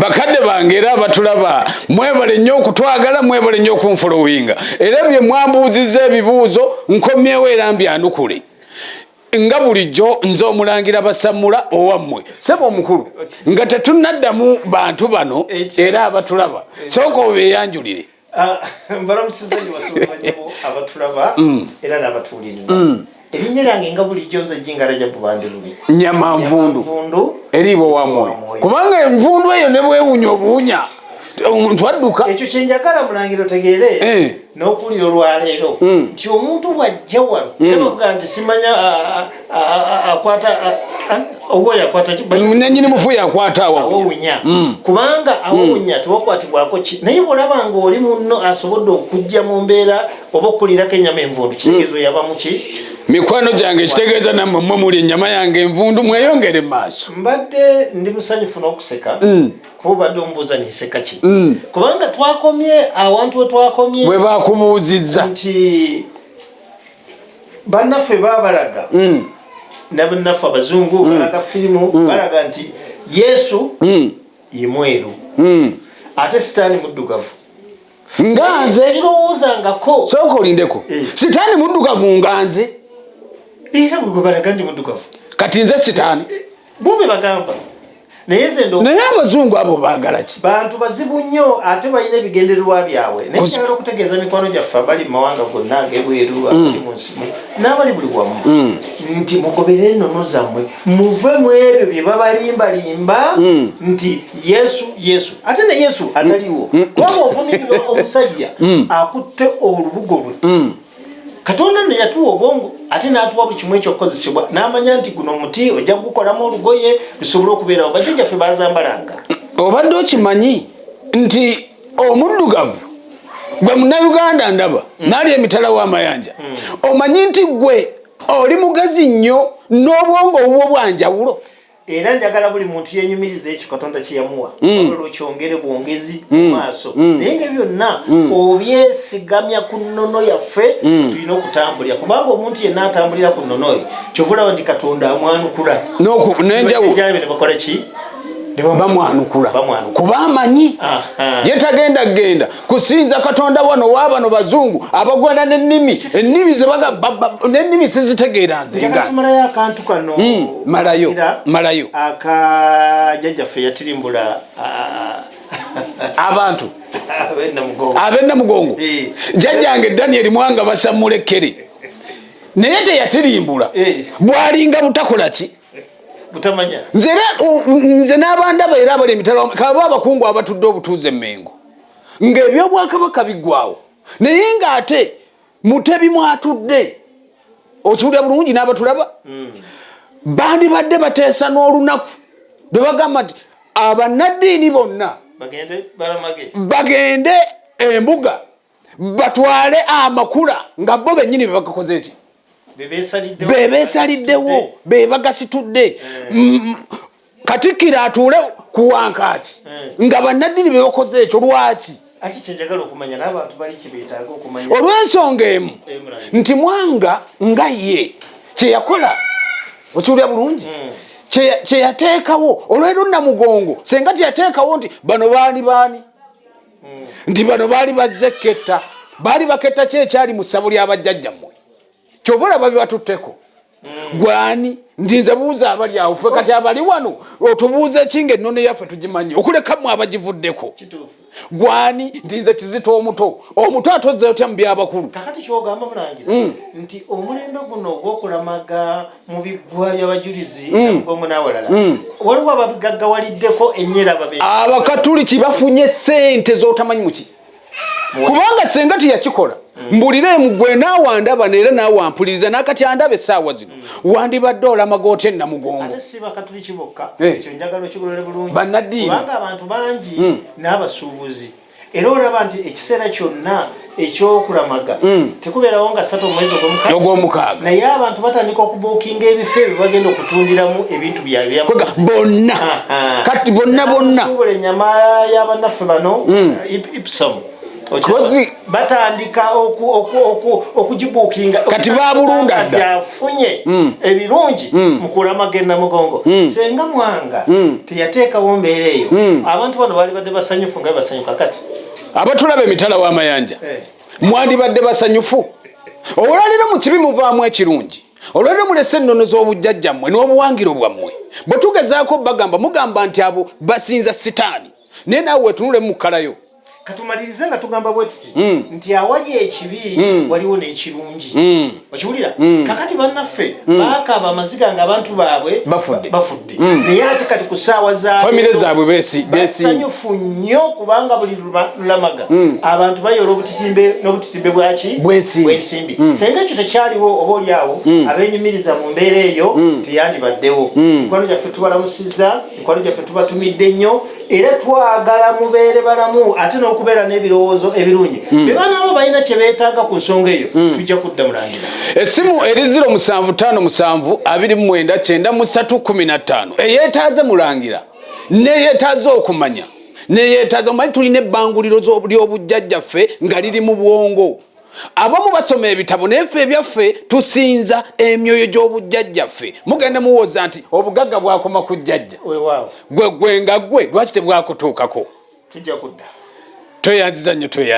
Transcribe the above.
bakadde bange era abatulaba mwebale nnyo okutwagala mwebale nnyo okunfolowinga era bye mwambuuzizza ebibuuzo nkomyewo era mbyanukule nga bulijjo nze omulangira basamula owammwe sebo omukulu nga tetunaddamu bantu bano era abatulaba sooka obeeyanjulire Ah, mbalamusiza nyo basooka nyabo abatulaba mm. era n'abatuwuliriza mm. erinnya lyange nga bulijjo nze jingala ja bubandi bubi nyama nvundu eriibo wa mwoyo kubanga envundu eyo ne bwewunya obuwunya omuntu adduka ekyo kyenjagala mulangira otegeere eh. n'okuwulira olwaleero mm. nti omuntu bw'ajja wano era bavuga nti simanya ah, ah, akwata owoya akwata nanyini mufu yakwata awowunya mm. kubanga mm. awowunya tewakwatibwako ki naye bwolaba nga oli munno asobodde okujja mu mbeera oba okukulirako enyama envundu kitegeezo mm. yaba muki mikwano gyange kitegeeza nammwe mwe muli enyama yange envundu mweyongere maaso mbadde ndi musanyufu n'okuseka kuba obadde omubuuza ninseka ki kubanga twakomye awantu wetwakomye bwe bakubuuzizza nti bannaffe babalaga mm. nabannaffe abazungu mm. balaga firimu mm. balaga nti yesu mm. ye mweru mm. ate sitaani muddugavu nga nze eh, sirowoozangako sooka olindeko eh. sitaani muddugavu nga nze era bwegwe balaga ndi muddugavu kati nze sitaani eh. bube bagamba naye zendo naye abazungu abo bagala ki bantu bazibu nnyo ate balina ebigendererwa byabwe naye kyagala okutegeeza mikwano gyaffe abali mu mawanga gonna agebweru mm. abali mu nsi n'abali buli wamu mm. nti mugoberere ennono zammwe muve mu ebyo bye babalimbalimba mm. nti yesu yesu ate ne yesu ataliwo waba ovumirira omusajja akutte olubugo lwe katonda ne yatuwa obwongo ate n'atuwa buli kimu ekyokukozesebwa n'amanya nti guno omuti ojja kugukolamu olugoye lusobole okubeerawo bajjajjaffe bazambalanga obadde okimanyi nti omuddugavu gwe munauganda ndaba mm. naali emitala w'amayanja mm. omanyi nti gwe oli mugezi nnyo n'obwongo obwo bwanjawulo era njagala buli muntu yenyumiriza ekyo katonda kyeyamuwa mm. olwo kyongere bwongezi mm. mu maaso mm. naye nga byonna obyesigamya ku nnono yaffe tulina okutambulira kubanga omuntu yenna atambulira ku nnono ye kyovulaba nti katonda amwanukula nenjawubakola ki bamwanukula kuba amanyi yetagenda genda kusinza katonda wano wabano bazungu abagwana nenimi enimi nenimi sizitegeera nzemalayo akantu kano hmm, malayo malayo akajajaffe yatirimbula abantu abenda mugongo eh. jajjange daniel mwanga basamulekkere naye teyatirimbula eh. bwalinga butakola ki nze n'abandaba era abali emitala kaba abakungu abatudde obutuuze emengo ng'ebyobwakabaka biggwawo naye ng'ate mutebi mwatudde okiwulira bulungi n'abatulaba hmm. bandibadde bateesa n'olunaku lwe bagamba nti abannaddiini bonna bagende embuga batwale amakula nga bo bennyini be bagakoze ki bebesaliddewo bebagasitudde eh. katikkiro atuule ku wankaaki eh. nga bannaddini be bakoze ekyo lwaki olw'ensonga emu eh, nti mwanga nga ye kye yakola okiwulira bulungi hmm. kye yateekawo olwero namugongo senga kye yateekawo nti bano baali baani hmm. nti bano baali bazze ketta baali baketta kyekyali mu ssabo ly'abajjajjammwe kyova olaba bibatutteko mm. gwani ndinze buuza abali awo fe kati abali wano otubuuza ki nga ennono yaffe tugimanye okulekamu abagivuddeko gwani ndinze kizita omuto omuto atozza otya mu byabakulu kakati kyogamba mulangira mm. nti omulembe guno ogwokulamaga mu biggwa byabajulizi mugongo mm. nawalala waliwo ababigaggawaliddeko enyera babe abakatuliki bafunye sente zotamanyi mukiri kubanga senga teyakikola mm. mbulire mugwe naawe andaba neera naawe ampuliriza nakati andaba esaawa zino mm. wandibadde olamagoota enamugongo eh. bannaddiini mm. era olaba nti ekiseera kyonna ekyokulamaga tekubeerawo nga satu omwezi ogwomukaaga naye abantu batandika okubuukinga ebifo ebyo bagenda okutundiramu ebintu byabonna kati bonna bonna suubula enyama yabannaffe bano hmm. ipsom batandika okugibuukinga kati babulunda dda afunye hmm. ebirungi hmm. mukulamaga enamugongo senga mwanga teyateekawo mbeera eyo abantu bano baali badde basanyufu nga basanyuka kati abatulaba emitala w'amayanja eh. mwandibadde basanyufu olwaleero mu kibi muvaamu ekirungi olwaleero mulese ennono z'obujjajja mmwe n'obuwangiro bwammwe bwe tugezaako bagamba mugamba nti abo basinza sitaani naye naawe wetunulemu mukalayo katumalirize nga tugamba bwe tuti hmm. nti awali ekibi hmm. waliwo n'ekirungi hmm. okiwulira mm. kakati bannaffe mm. baakaaba amaziga nga abantu baabwe bafudde mm. naye ate kati ku ssaawa zafamire zaabwe besanyufu nnyo kubanga buli lulamaga abantu bayoola obutitimbe n'obutitimbe bwaki bwensimbi senga ekyo tekyaliwo oba oli awo abenyumiriza mu mbeera eyo teyandibaddewo mikwano gyaffe tubalamusiza mikwano gyaffe tubatumidde nnyo era twagala mubeere balamu ate n'okubeera n'ebirowoozo ebirungi hmm. be baana abo balina kye beetaaga ku nsonga eyo hmm. tujja kudda mulangira essimu eri ziro musanvu ttaano musanvu abiri mu mwenda kyenda mu ssatu kkumi na ttaano eyeetaaze mulangira neyeetaaze okumanya neyeetaaze omanyi tulina ebbanguliro ly'obujjajjaffe nga liri mu bwongo abamu basoma ebitabo naye ffe ebyaffe tusinza emyoyo gy'obujjajjaffe mugenda muwooza nti obugagga bwakoma ku jjajja gwe gwe nga gwe lwaki tebwakutuukako tweyanziza nnyo tweya